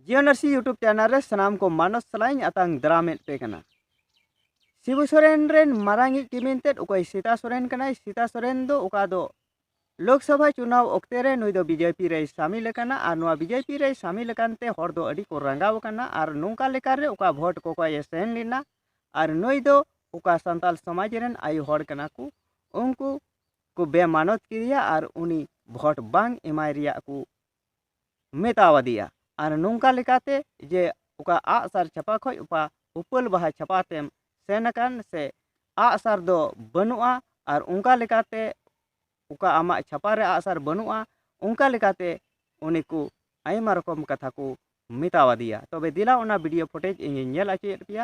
ᱡᱤᱭᱚᱱᱟᱨᱥᱤ YouTube channel ᱨᱮ ᱥᱟᱱᱟᱢ ᱠᱚ ᱢᱟᱱᱚᱥ ᱥᱟᱞᱟᱧ ᱟᱛᱟᱝ ᱫᱟᱨᱟᱢᱮᱫ ᱯᱮ ᱠᱟᱱᱟ ᱥᱤᱵᱩ ᱥᱚᱨᱮᱱ ᱨᱮᱱ ᱢᱟᱨᱟᱝ ᱤᱡ ᱠᱤᱢᱤᱱ ᱛᱮᱫ ᱚᱠᱚᱭ ᱥᱤᱛᱟ ᱥᱚᱨᱮᱱ ᱠᱟᱱᱟᱭ ᱥᱤᱛᱟ ᱥᱚᱨᱮᱱ ᱫᱚ ᱚᱠᱟ ᱫᱚ ᱞᱳᱠᱥᱚᱵᱷᱟ ᱪᱩᱱᱟᱣ ᱚᱠᱛᱮ ᱨᱮ ᱱᱩᱭ ᱫᱚ ᱵᱤᱡᱮᱯᱤ ᱨᱮᱭ ᱥᱟᱢᱤᱞ ᱟᱠᱟᱱᱟ ᱟᱨ ᱱᱚᱣᱟ ᱵᱤᱡᱮᱯᱤ ᱨᱮᱭ ᱥᱟᱢᱤᱞ ᱟᱠᱟᱱ ᱛᱮ ᱦᱚᱲ ᱫᱚ ᱟᱹᱰᱤ ᱠᱚ ᱨᱟᱸᱜᱟᱣ ᱟᱠᱟᱱᱟ ᱟᱨ ᱱᱚᱝᱠᱟ ᱞᱮᱠᱟ ᱨᱮ ᱚᱠᱟ ᱵᱷᱳᱴ ᱠᱚ ᱠᱚᱭᱮ ᱥᱮᱱ ᱞᱮᱱᱟ ᱟᱨ ᱱᱩᱭ ᱫᱚ ᱚᱠᱟ ᱥᱟᱱᱛᱟᱞ ᱥᱚᱢᱟᱡᱽ ᱨᱮᱱ ᱟᱭᱳ ᱦᱚᱲ ᱠᱟᱱᱟ ᱠᱚ ᱩᱱᱠᱩ ᱠᱚ ᱵᱮᱢᱟᱱᱚᱛ ᱠᱮᱫᱮᱭᱟ ᱟᱨ ᱩᱱᱤ ᱵᱷᱳᱴ ᱵᱟᱝ ᱮᱢᱟᱭ ᱨᱮᱭᱟᱜ ᱠᱚ ᱢᱮᱛᱟᱣ ᱟᱫᱮᱭᱟ ᱟᱨ ᱱᱚᱝᱠᱟ ᱞᱮᱠᱟᱛᱮ ᱡᱮ ᱚᱠᱟ ᱟᱜ ᱥᱟᱨ ᱪᱷᱟᱯᱟ ᱠᱷᱚᱱ ᱚᱠᱟ ᱩᱯᱟᱹᱞ ᱵᱟᱦᱟ ᱪᱷᱟᱯᱟ ᱛᱮᱢ ᱥᱮᱱ ᱟᱠᱟᱱ ᱥᱮ ᱟᱜ ᱥᱟᱨ ᱫᱚ ᱵᱟᱹᱱᱩᱜᱼᱟ ᱟᱨ ᱚᱱᱠᱟ ᱞᱮᱠᱟᱛᱮ ᱚᱠᱟ ᱟᱢᱟᱜ ᱪᱷᱟᱯᱟ ᱨᱮ ᱟᱜ ᱥᱟᱨ ᱵᱟᱹᱱᱩᱜᱼᱟ ᱚᱱᱠᱟ ᱞᱮᱠᱟᱛᱮ ᱩᱱᱤ ᱠᱚ ᱟᱭᱢᱟ ᱨᱚᱠᱚᱢ ᱠᱟᱛᱷᱟ ᱠᱚ ᱢᱮᱛᱟᱣ ᱟᱫᱮᱭᱟ ᱛᱚᱵᱮ ᱫᱮᱞᱟ ᱚᱱᱟ ᱵᱷᱤᱰᱤᱭᱳ ᱯᱷᱩᱴᱮᱡᱽ ᱤᱧᱤᱧ ᱧᱮᱞ ᱦᱚᱪᱚᱭᱮᱫ ᱯᱮᱭᱟ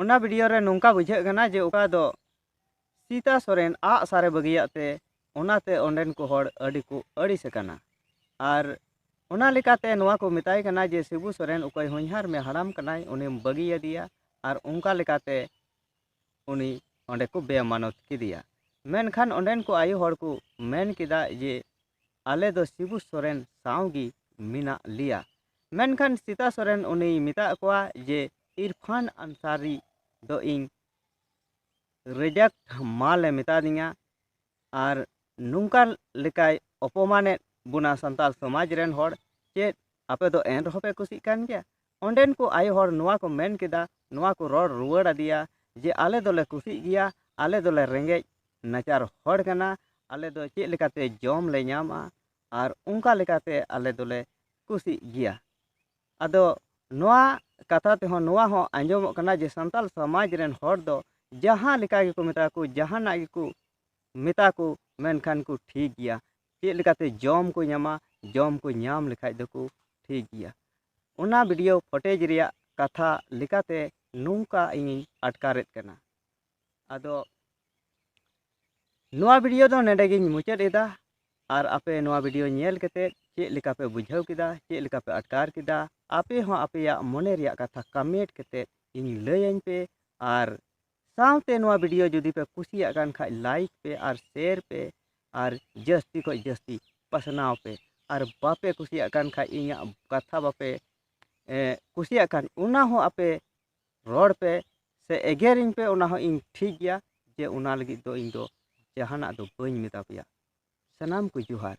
ᱚᱱᱟ ᱵᱷᱤᱰᱤᱭᱳ ᱨᱮ ᱱᱚᱝᱠᱟ ᱵᱩᱡᱷᱟᱹᱜ ᱠᱟᱱᱟ ᱡᱮ ᱚᱠᱟ ᱫᱚ ᱥᱤᱛᱟ ᱥᱚᱨᱮᱱ ᱟᱜ ᱥᱟᱨᱮ ᱵᱟᱹᱜᱤᱭᱟᱜ ᱛᱮ ᱚᱱᱟᱛᱮ ᱚᱸᱰᱮᱱ ᱠᱚ ᱦᱚᱲ ᱟᱹᱰᱤ ᱠᱚ ᱟᱹᱲᱤᱥ ᱟᱠᱟᱱᱟ ᱟᱨ ᱚᱱᱟ ᱞᱮᱠᱟᱛᱮ ᱱᱚᱣᱟ ᱠᱚ ᱢᱮᱛᱟᱭ ᱠᱟᱱᱟ ᱡᱮ ᱥᱤᱵᱩ ᱥᱚᱨᱮᱱ ᱚᱠᱚᱭ ᱦᱚᱧᱦᱟᱨ ᱢᱮ ᱦᱟᱲᱟᱢ ᱠᱟᱱᱟᱭ ᱩᱱᱤᱢ ᱵᱟᱹᱜᱤᱭᱟᱫᱮᱭᱟ ᱟᱨ ᱚᱱᱠᱟ ᱞᱮᱠᱟᱛᱮ ᱩᱱᱤ ᱚᱸᱰᱮ ᱠᱚ ᱵᱮᱢᱟᱱᱚᱛ ᱠᱮᱫᱮᱭᱟ ᱢᱮᱱᱠᱷᱟᱱ ᱚᱸᱰᱮᱱ ᱠᱚ ᱟᱭᱳ ᱦᱚᱲ ᱠᱚ ᱢᱮᱱ ᱠᱮᱫᱟ ᱡᱮ ᱟᱞᱮ ᱫᱚ ᱥᱤᱵᱩ ᱥᱚᱨᱮᱱ ᱥᱟᱶ ᱜᱮ ᱢᱮᱱᱟᱜ ᱞᱮᱭᱟ ᱢᱮᱱᱠᱷᱟᱱ ᱥᱤᱛᱟ ᱥᱚᱨᱮᱱ ᱩᱱᱤᱭ ᱢᱮᱛᱟᱜ ᱠᱚᱣᱟ ᱡᱮ ᱤᱨᱯᱷᱟᱱ ᱟᱱᱥᱟᱨᱤ ᱫᱚ ᱤᱧ ᱨᱮᱡᱮᱠᱴ ᱢᱟᱞ ᱮ ᱢᱮᱛᱟ ᱫᱤᱧᱟ ᱟᱨ ᱱᱚᱝᱠᱟ ᱞᱮᱠᱟᱭ ᱚᱯᱚᱢᱟᱱᱮᱫ ᱵᱚᱱᱟ ᱥᱟᱱᱛᱟᱲ ᱥᱚᱢᱟᱡᱽ ᱨᱮᱱ ᱦᱚᱲ ᱪᱮᱫ ᱟᱯᱮ ᱫᱚ ᱮᱱ ᱨᱮᱦᱚᱸ ᱯᱮ ᱠᱩᱥᱤᱜ ᱠᱟᱱ ᱜᱮᱭᱟ ᱚᱸᱰᱮᱱ ᱠᱚ ᱟᱭᱳ ᱦᱚᱲ ᱱᱚᱣᱟ ᱠᱚ ᱢᱮᱱ ᱠᱮᱫᱟ ᱱᱚᱣᱟ ᱠᱚ ᱨᱚᱲ ᱨᱩᱣᱟᱹᱲ ᱟᱫᱮᱭᱟ ᱡᱮ ᱟᱞᱮ ᱫᱚᱞᱮ ᱠᱩᱥᱤᱜ ᱜᱮᱭᱟ ᱟᱞᱮ ᱫᱚᱞᱮ ᱨᱮᱸᱜᱮᱡ ᱱᱟᱪᱟᱨ ᱦᱚᱲ ᱠᱟᱱᱟ ᱟᱞᱮ ᱫᱚ ᱪᱮᱫ ᱞᱮᱠᱟᱛᱮ ᱡᱚᱢ ᱞᱮ ᱧᱟᱢᱟ ᱟᱨ ᱚᱱᱠᱟ ᱞᱮᱠᱟᱛᱮ ᱟᱞᱮ ᱫᱚᱞᱮ ᱠᱩᱥᱤᱜ ᱜᱮᱭᱟ ᱟᱫᱚ ᱱᱚᱣᱟ ᱠᱟᱛᱷᱟ ᱛᱮᱦᱚᱸ ᱱᱚᱣᱟ ᱦᱚᱸ ᱟᱸᱡᱚᱢᱚᱜ ᱠᱟᱱᱟ ᱡᱮ ᱥᱟᱱᱛᱟᱲ ᱥᱚᱢᱟᱡᱽ ᱨᱮᱱ ᱦᱚᱲ ᱫᱚ ᱡᱟᱦᱟᱸ ᱞᱮᱠᱟ ᱜᱮᱠᱚ ᱢᱮᱛᱟ ᱠᱚ ᱡᱟᱦᱟᱱᱟᱜ ᱜᱮᱠᱚ ᱢᱮᱛᱟ ᱠᱚ ᱢᱮᱱᱠᱷᱟᱱ ᱠᱚ ᱴᱷᱤᱠ ᱜᱮᱭᱟ ᱪᱮᱫ ᱞᱮᱠᱟᱛᱮ ᱡᱚᱢ ᱠᱚ ᱧᱟᱢᱟ ᱡᱚᱢ ᱠᱚ ᱧᱟᱢ ᱞᱮᱠᱷᱟᱱ ᱫᱚᱠᱚ ᱴᱷᱤᱠ ᱜᱮᱭᱟ ᱚᱱᱟ ᱵᱷᱤᱰᱤᱭᱳ ᱯᱷᱚᱴᱮᱡᱽ ᱨᱮᱭᱟᱜ ᱠᱟᱛᱷᱟ ᱞᱮᱠᱟᱛᱮ ᱱᱚᱝᱠᱟ ᱤᱧᱤᱧ ᱟᱴᱠᱟᱨᱮᱫ ᱠᱟᱱᱟ ᱟᱫᱚ ᱱᱚᱣᱟ ᱵᱷᱤᱰᱤᱭᱳ ᱫᱚ ᱱᱚᱰᱮ ᱜᱤᱧ ᱢᱩᱪᱟᱹᱫ ᱮᱫᱟ ᱟᱨ ᱟᱯᱮ ᱱᱚᱣᱟ ᱵᱷᱤᱰᱤᱭᱳ ᱧᱮᱞ ᱠᱟᱛᱮ ᱪᱮᱫ ᱞᱮᱠᱟ ᱯᱮ ᱵᱩᱡᱷᱟᱹᱣ ᱠᱮᱫᱟ ᱪᱮᱫ ᱞᱮᱠᱟ ᱯᱮ ᱟᱴᱠᱟᱨ ᱠᱮᱫᱟ ᱟᱯᱮ ᱦᱚᱸ ᱟᱯᱮᱭᱟᱜ ᱢᱚᱱᱮ ᱨᱮᱭᱟᱜ ᱠᱟᱛᱷᱟ ᱠᱟᱢᱮᱱᱴ ᱠᱟᱛᱮ ᱤᱧ ᱞᱟᱹᱭᱟᱹᱧ ᱯᱮ ᱟᱨ ᱥᱟᱶᱛᱮ ᱱᱚᱣᱟ ᱵᱷᱤᱰᱤᱭᱳ ᱡᱩᱫᱤ ᱯᱮ ᱠᱩᱥᱤᱭᱟᱜ ᱠᱟᱱ ᱠᱷᱟᱡ ᱞᱟᱭᱤᱠ ᱯᱮ ᱟᱨ ᱥᱮᱭᱟᱨ ᱯᱮ ᱟᱨ ᱡᱟᱹᱥᱛᱤ ᱠᱷᱚᱡ ᱡᱟᱹᱥᱛᱤ ᱯᱟᱥᱱᱟᱣ ᱯᱮ ᱟᱨ ᱵᱟᱯᱮ ᱠᱩᱥᱤᱭᱟᱜ ᱠᱟᱱ ᱠᱷᱟᱡ ᱤᱧᱟᱹᱜ ᱠᱟᱛᱷᱟ ᱵᱟᱯᱮ ᱠᱩᱥᱤᱭᱟᱜ ᱠᱟᱱ ᱚᱱᱟ ᱦᱚᱸ ᱟᱯᱮ ᱨᱚᱲ ᱯᱮ ᱥᱮ ᱮᱜᱮᱨᱤᱧ ᱯᱮ ᱚᱱᱟ ᱦᱚᱸ ᱤᱧ ᱴᱷᱤᱠ ᱜᱮᱭᱟ ᱡᱮ ᱚᱱᱟ ᱞᱟᱹᱜᱤᱫ ᱫᱚ ᱤᱧ ᱫᱚ ᱡᱟᱦᱟᱱᱟᱜ ᱫᱚ ᱵᱟᱹᱧ ᱢᱮᱛᱟ ᱯᱮᱭᱟ ᱥᱟᱱᱟᱢ ᱠᱚ ᱡᱚᱦᱟᱨ